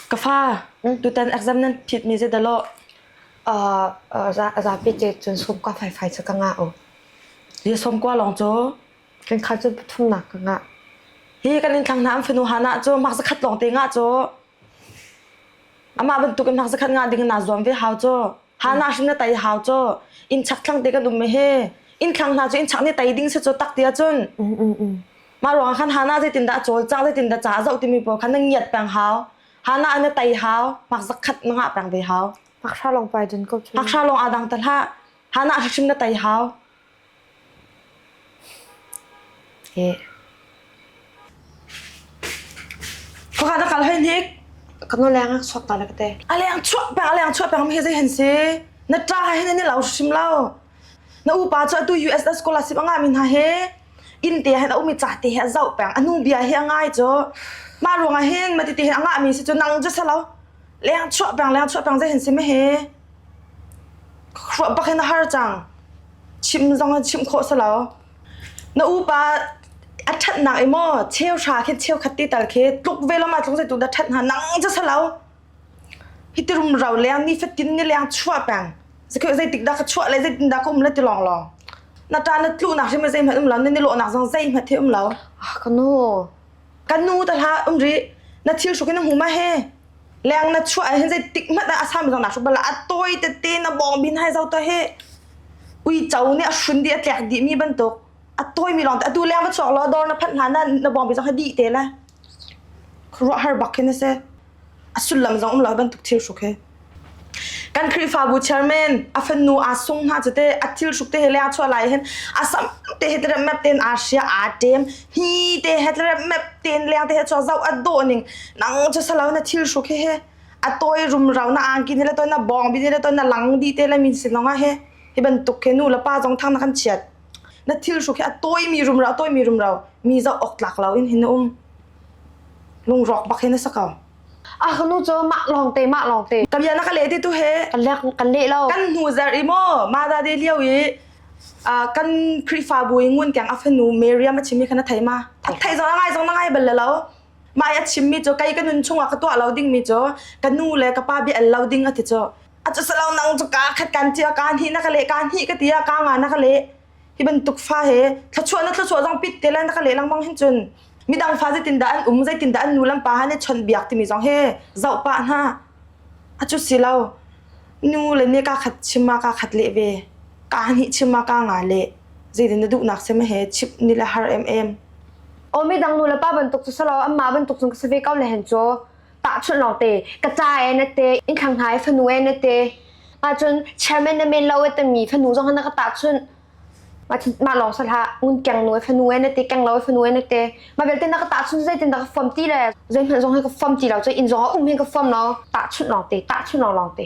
Ka fa, tutan exam nan phitmi zeidahlo zapi te cun sawmkua faifai cu ka ngah u. Hi sawmkua lawng cu kankhah cu pathumnak ka ngah. Hi kan inn thlang hna an fanu hna ah cu mark zakhat lawng te ngah cu. Amah bantuk in nak zakhat nga ding naa zuam ve hau caw. Hana hrim na tai hau caw. Inn chak thlang te kan um me he. Inn thlang hna cu inn chak nih tai ding si caw tak tia cun. Mah ruang ah khan hana zeitin dah a cawl cang zeitin dah ca a zoh timi pawl khan na ngiat peng hau. Hana an na tai hau. Mak zakhat na ngah peng ve hau. Paksa lawng pai cun ko cu. Paksa lawng aa dang ta hlah. Hana hrim na tai hau. Pakhat a kal heinhnik. Kan o leng a suak ta le ka te. A leng chuak peng, a leng chuak peng mi hi zei hen si? Na ta ha hin ni lau hrim lo. Na upa cu atu USS scholarship anga mi hna he inn te hen a umi ca te he a zau peng. A nu bia hi a ngai cu. Ma ruang ah hin ma ti ti hin a ngah mi si cu nang cu sa lo. Leng chuak peng, leng chuak peng zei hen si me he? Hruah bak in a har cang. Chimh zong in chimh khawh si lo. Na upa a ṭhatnak i maw cheuhra khi cheukhat ti tal khi tluk ve lo ma tluk zeitluk dah ṭhat hna nang cu si lo. Hi ti rumro leng nifatin ni leng chuah peng. Zekheu zeitik dah ka chuah le zeitin dah ka um le ti lawnglawng. Na ṭa na tluhnak hrim hi zeihmanh um lo na nilawhnak zong zeihmanh hi um lo. Ka nu. Kan nu ta hla um ri na thil hruk in na hmu ma he leng na chuah hin zei tik hmat ah asam zong na hruk bala atoi tete na bong bin hai zau to he uico nih a hrun di a tlek di mi bantuk atoi mi long te atu leng va chuak law dor na phat hna na na bong bi zong ha di te le khuaruah har bak hin a si a sullam zong um lo bantuk thil hruk hi kan khrihfabu chairman a fanu a sung hna chite a thil hruk te he le a chuah lai hen a sam te he tere map ten a sia a tem hi te he tere map ten le te he cho zau a do ning nang cho salo na thil hruk he he a toy rum rau na angki ne le toy na bong bi ne le toy na lang di te le min sinonga he hi bantuk ke nu la pa zong thang na kan chiat Na thilhruk hi a tawimi rumro, a tawimi rumro mi zoh awk tlak lo in hin na um. Lungrawk bak hi na sa ko. A hnu cu mah lawng te mah lawng te. Ka bia na ka le te tu he. Kan le kan le lo. Kan hnu zer i mo ma da de liao i kan Krifa bu i ngun kang a fanu Miriam a chimi kana thei ma. Thak thei zong ngai zong ngai bal lo. Mai a chimmi cu kai ka nun chung a ka tua lo ding mi cu ka nu le ka pa bia el lo ding a ti cu. acu salo nang cu ka khat kan tia ka ni na ka le ka ni ka tia ka nga na ka le hi bantuk fa he thlachuah na thlachuah zong pit te la na ka le lang mang hin chun midang fa zeitin da an um zeitin da an nu lam pa han ne chon biak timi zong he zau pa na acu silo nu le ne ka khat chima ka khat le ve ka ni chima ka nga le zeitin na duh nak se ma he chip ni la har em em omi dang nu la pa bantuk chu salo amma bantuk chung ka save kau le hen cho tahchunh lawng te ka ca e na te in khang hai fanu e na te ahcun chairman na men lo e tami fanu zong na ka tahchunh ma lawng sala ngun keng no fanu e na te keng lo fanu e na te ma belte na ka tahchunh zai tin da ka form ti le zai hman zong ka form ti lo cho in zong um he ka form no tahchunh lawng te tahchunh lawng lawng te